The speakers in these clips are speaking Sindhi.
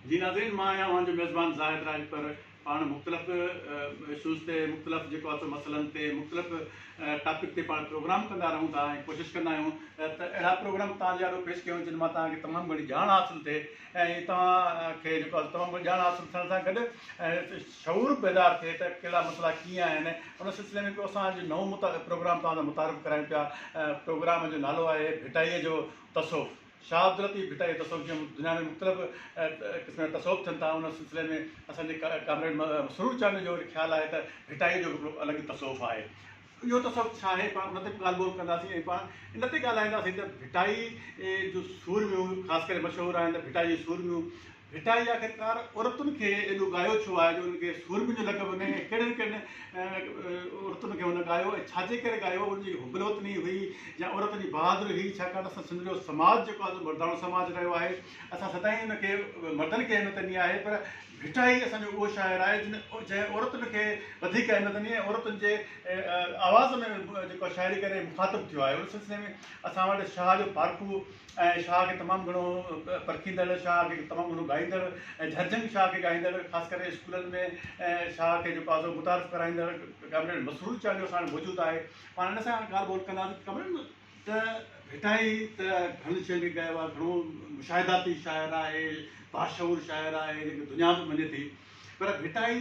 جي ناظرين مان آهيان اوهان جو ميزبان زاهد راهي پر پاڻ مختلف اشوز تي مختلف جيڪو آهي سو مسئلن تي مختلف ٽاپڪ تي پاڻ پروگرام ڪندا رهون ٿا ۽ ڪوشش ڪندا آهيون ته اهڙا پروگرام تان جي آڏو پيش ڪيون جن مان تان کي تمام گهڻي ڄاڻ حاصل ٿئي ۽ تان کي جيڪو آهي تمام گهڻي ڄاڻ حاصل ٿيڻ سان گڏ شعور پيدار ٿئي ته ڪهڙا مسئلا ڪيئن آهن ان سلسلي ۾ ڪو اسان جو نئون پروگرام تان متعارف ڪرايون پيا پروگرام جو نالو آهي ڀٽائيء جو تصوف، شاهه عبداللطيف ڀٽائي جو تصوف جيئن دنيا ۾ مختلف قسمن جا تصوف ٿين ٿا ان سلسلي ۾ اسان جي ڪامريڊ مسرور چانڊيو جو وري خيال آهي ته ڀٽائي جو به هڪڙو الڳ ئي تصوف آهي اهو تصوف ڇا آهي پاڻ ان تي به ڳالهه ٻولهه ڪنداسين ۽ پاڻ ان تي ڳالهائينداسين ته ڀٽائي جون سورميون خاص ڪري مشهور آهن ته ڀٽائي جون سورميون ڀٽائي آخرڪار عورتن کي ايڏو ڳايو ڇو آهي جو انهن کي سورمين جو لقب ملي ۽ ڪهڙين ڪهڙين عورتن کي هن ڳايو ۽ ڇا جي ڪري ڳايو ان جي حب الوطني هئي يا عورتن جي بهادري هئي ڇاڪاڻ ته اسان سنڌ جو سماج جيڪو آهي سو مرداڻو سماج رهيو آهي اسان سدائين ان کي مردن کي اهميت ڏني آهي پر ڀٽائي اسان جو اهو شاعر آهي جن جنهن عورتن کي وڌيڪ اهميت ڏني ۽ عورتن جي آواز ۾ جيڪو شاعري ڪري مخاطب ٿيو آهي ان سلسلي ۾ اسان وٽ شاهه جو پارکو ۽ شاهه کي تمام گهڻو پرکيندڙ، شاهه کي تمام گهڻو ڳائيندڙ ۽ جهرجهنگ شاهه کي ڳائيندڙ، خاص ڪري اسڪولن ۾ شاهه کي جيڪو آزو متعارف ڪرائيندڙ ڪامريڊ مسرور چانڊيو اسان وٽ موجود آهي. پاڻ هن سان ڳالهه ٻولهه ڪنداسين ڪامريڊ ته ڀٽائي ته گهڻن شين کي ڳايو آهي، گهڻو مشاهداتي شاعر آهي، باشعور شاعر آهي جنهن کي دنيا به مڃي ٿي پر ڀٽائي،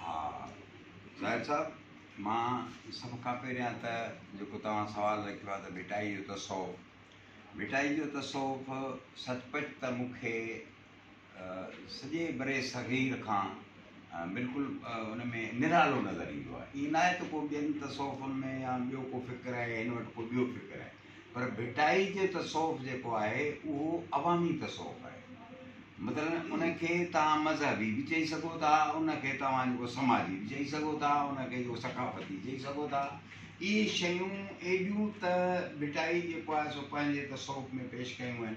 ها ظاهر صاحب مان سڀ کان پهريان ته جيڪو توهان سوال رکيو آهي ته ڀٽائي جو تصوف ڀٽائي جو تصوف سچ پچ ته مون کي سڄي بري صغير کان بلڪل ان ۾ نرالو نظر ايندو آهي ائين ناهي ته ڪو ٻين تصوفن ۾ يا ٻيو ڪو فڪر آهي يا هن وٽ ڪو ٻيو فڪر آهي پر ڀٽائي جو تصوف جيڪو آهي اهو عوامي تصوف آهي. مثلاً ان کي توهان مذهبي به چئي سگهو ٿا، ان کي توهان جيڪو سماجي به چئي سگهو ٿا، ان کي جيڪو ثقافتي چئي سگهو ٿا. اهي شيون ايڏيون ته ڀٽائي جيڪو آهي سو پنهنجي تصوف ۾ پيش ڪيون آهن.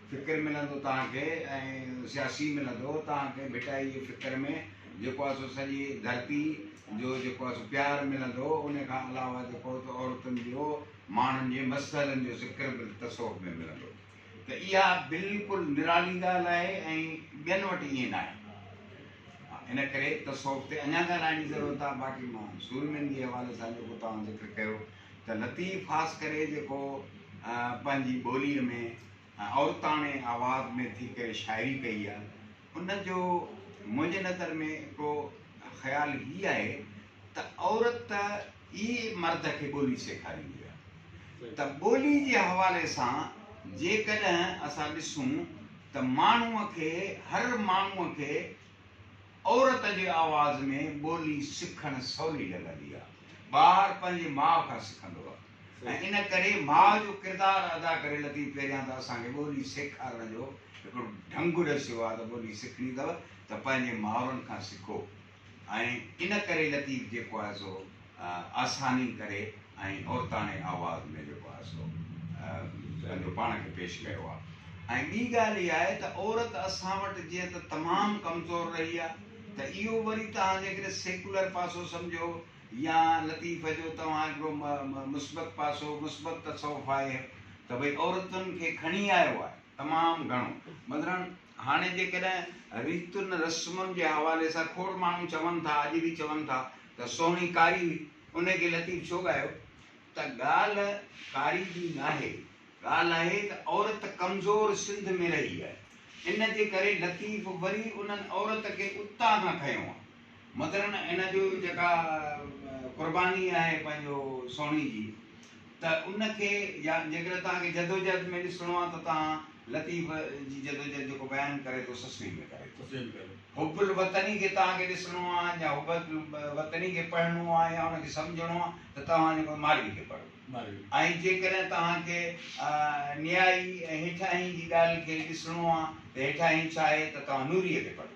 فڪر ملندو توهان کي ۽ سياسي ملندو توهان کي ڀٽائي جي فڪر ۾ جيڪو آهي سو سڄي ڌرتي جو جيڪو آهي سو پيار ملندو ان کان علاوه جيڪو عورتن جو ماڻهن جي مسئلن جو ذڪر به تصوف ۾ ملندو ته اها بلڪل نرالي ڳالهه آهي ۽ ٻين وٽ ائين نه آهي ان ڪري تصوف تي اڃا ڳالهائڻ جي ضرورت آهي باقي مان سورمين جي حوالي سان جيڪو توهان ذڪر ڪيو ته لطيف خاص ڪري جيڪو پنهنجي ٻوليء ۾ عورتاڻي آواز ۾ ٿي ڪري شاعري ڪئي آ ان جو منهنجي نظر ۾ هڪڙو خيال هي آهي ته عورت ئي مرد کي ٻولي سيکاريندي آ ته ٻولي جي حوالي سان جيڪڏهن اسان ڏسون ته ماڻهوء کي هر ماڻهوء کي عورت جي آواز ۾ ٻولي سکڻ سولي لڳندي آ. ٻار پنهنجي ماء کان سکندو آ ۽ ان ڪري ماء جو ڪردار ادا ڪري لطيف پهريان ته اسان کي ٻولي سيکارڻ جو هڪڙو ڍنگ ڏسيو آ ته ٻولي سکڻي اٿو ته پنهنجي مائرن کان سکو ۽ ان ڪري لطيف جيڪو آهي سو آساني ڪري ۽ عورتاڻي آواز ۾ جيڪو آهي سو پنهنجو پاڻ کي پيش ڪيو آهي ۽ ٻي ڳالهه اها آهي ته عورت اسان وٽ جيئن ته تمام ڪمزور رهي آهي ته اهو وري توهان جيڪڏهن سيڪولر پاسو سمجهو يا لطيف جو توهان هڪڙو مثبت پاسو مثبت تصوف آهي ته ڀئي عورتن کي کڻي آيو آهي تمام گهڻو مثلا هاڻي جيڪڏهن ريتن رسمن جي حوالي سان کوڙ ماڻهو چون ٿا اڄ به چون ٿا ته سهڻي قاري هئي، انهيء کي لطيف ڇو ڳايو؟ ته ڳالهه قاري جي ناهي، ڳالهه آهي ته عورت ڪمزور سنڌ ۾ رهي آهي، ان جي ڪري لطيف وري انهن عورت کي اتان کان کنيو آهي. مگرنه ان جي جيڪا قرباني آهي پنهنجو سهڻي جي، ته ان کي يا جيڪڏهن توهان کي جدوجهد ۾ ڏسڻو آهي ته توهان لطيف جي جدوجهد جيڪو بيان ڪري ٿو سسٽيء ۾ ڪري ٿو. حب الوطني کي توهان کي ڏسڻو آهي يا حب الوطني کي پڙهڻو آهي يا ان کي سمجهڻو آهي ته توهان جيڪو مارئي کي پڙهو ۽ جيڪڏهن توهان کي نيائي ۽ هيٺاهين جي ڳالهه کي ڏسڻو آهي ته هيٺاهين ڇا آهي ته توهان نوريء کي پڙهو.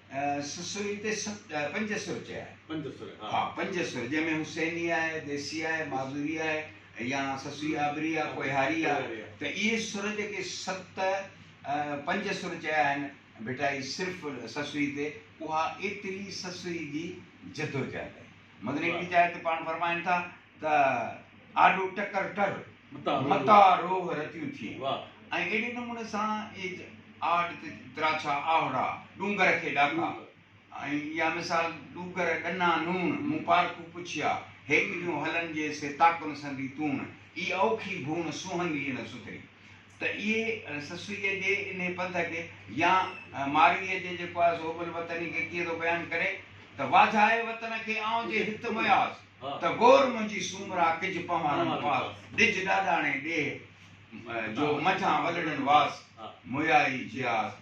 سسئي تي پنج سر چيا آهن. پنج سر ها. ها پنج سر جنهن ۾ حسيني آهي، ديسي آهي، معذوري آهي يا سسئي آبري آهي، ڪوهياري آهي ته اهي سر جيڪي ست پنج سر چيا آهن ڀٽائي صرف سسئي تي اها ايتري سسئي جي جدوجهد آهي. مدني پير صاحب تي پاڻ فرمائن ٿا ته آڏو ٽڪر ٽر متاع روح رتيون ٿئين ۽ اهڙي نموني سان اهي آڏ تي تراڇا آهوڙا ڏونگر کي ڏاڪا ۽ اها مثال ڏوگر ڏنا نوڻ مون پارکون پڇيا هيڪليون هلن جي سي تاڪن سندي تون اي اوکي ڀون سونهن ڏيئي نه سٿري ته اهي سسئيء جي انهي پنڌ کي يا مارويء جي جيڪو آهي سو حب الوطني کي ڪيئن ٿو بيان ڪري ته واجهائي وطن کي آئون جي هت مياس ته گور منهنجي سومرا ڪج پنهوارن پاس ڏج ڏاڏاڻي ڏيهه جو منجهان ولڙين واس مويائي جياس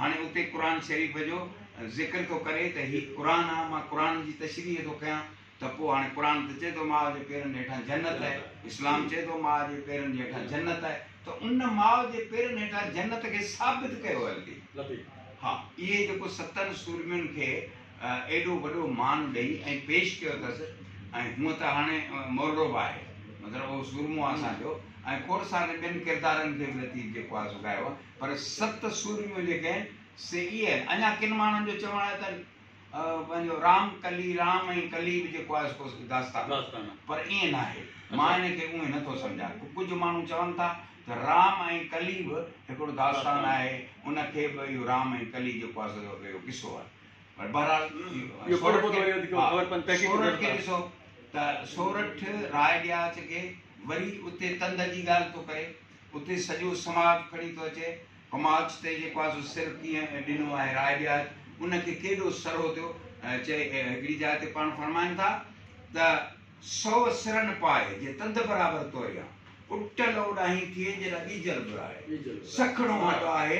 هاڻي اتي قرآن شريف جو ذڪر ٿو ڪري ته هي قرآن آ، مان قرآن جي تشريح ٿو ڪيان ته پوء هاڻي قرآن ته چئي ٿو ماء جي پيرن جي هيٺان جنت آهي، اسلام چئي ٿو ماء جي پيرن جي هيٺان جنت آهي ته ان ماء جي پيرن هيٺان جنت کي ثابت ڪيو هل ٿي. ها اهي جيڪو ستن سورمين کي ايڏو وڏو مان ڏئي ۽ پيش ڪيو اٿس ۽ هونء ته هاڻي مورڙو به آهي مطلب اهو سورمو آ اسان جو ۽ کوڙ سارن ٻين ڪردارن کي به لطيف جيڪو آ سو ڳايو آ پر ست سورميون جيڪي آهن سي اهي آهن. اڃا ڪن ماڻهن جو چوڻ آهي ته پنهنجو رام ڪلي رام ۽ ڪلي به جيڪو آهي ڪو داستان آهي پر ائين ناهي. مان ان کي اونهي نٿو سمجهان. ڪجهه ماڻهو چون ٿا ته رام ۽ ڪلي به هڪڙو داستان آهي ان کي به اهو رام ۽ ڪلي جيڪو آهي سو اهو قصو آهي. پر بهرحال سورٺ کي ڏسو ته سورٺ راء ڏياچ کي وري اتي تند جي ڳالهه ٿو ڪري. اتي سڄو سماج کڻي ٿو اچي، ڪماچ تي جيڪو آهي سو سر ڪيئن ڏنو آهي، راء ڏياري ان کي ڪيڏو سرهو ٿيو، چئي هڪڙي جاء تي پاڻ فرمائن ٿا ته، سؤ سرن پائي، جي تند برابر توريان، اٽل اوڏاهين ٿئي، جيڏا ٻيجل ٻرائي، سکڻو هڏ آهي،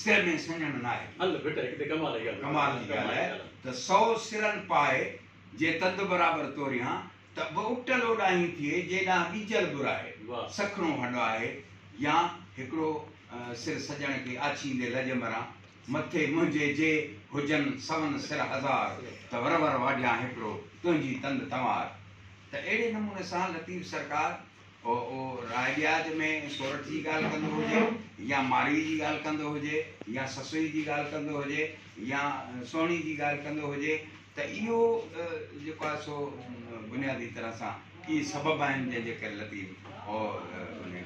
سر ۾ سڃڻ ناهي ڪي. ڪمال جي ڳالهه آهي ته، سؤ سرن پائي، جي تند برابر توريان، ته به اٽل اوڏاهين ٿئي، جي ڏانهن ٻيجل ٻر آهي، سکڻو هڏ آهي، يا هڪڙو سر سڄڻ کي آڇيندي لڄ مران، مٿي منهنجي جي هجن سون سر هزار، ته ور ور واڍيان هڪڙو، تنهنجي تند تنوار. ته اهڙي نموني سان لطيف سرڪار اهو راء ڏياچ ۾ سورٺ جي ڳالهه ڪندو هجي يا ماڙيء جي ڳالهه ڪندو هجي يا سسئي جي ڳالهه ڪندو هجي يا سهڻي جي ڳالهه ڪندو هجي ته اهو جيڪو آهي سو بنيادي طرح سان اهي سبب آهن جنهن جي ڪري لطيف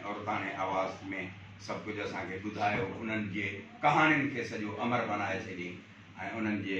عورتاڻي آواز ۾ سڀ ڪجهه اسان کي ٻڌايو انهن جي ڪهاڻين کي سڄو امر بنائي ڇڏيائين ۽ انهن جي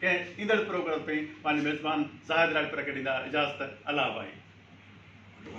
کي ايندڙ پروگرام تائين پنهنجي ميزبان زاهد راڄپر کي ڏيندا اجازت الله اباڻي.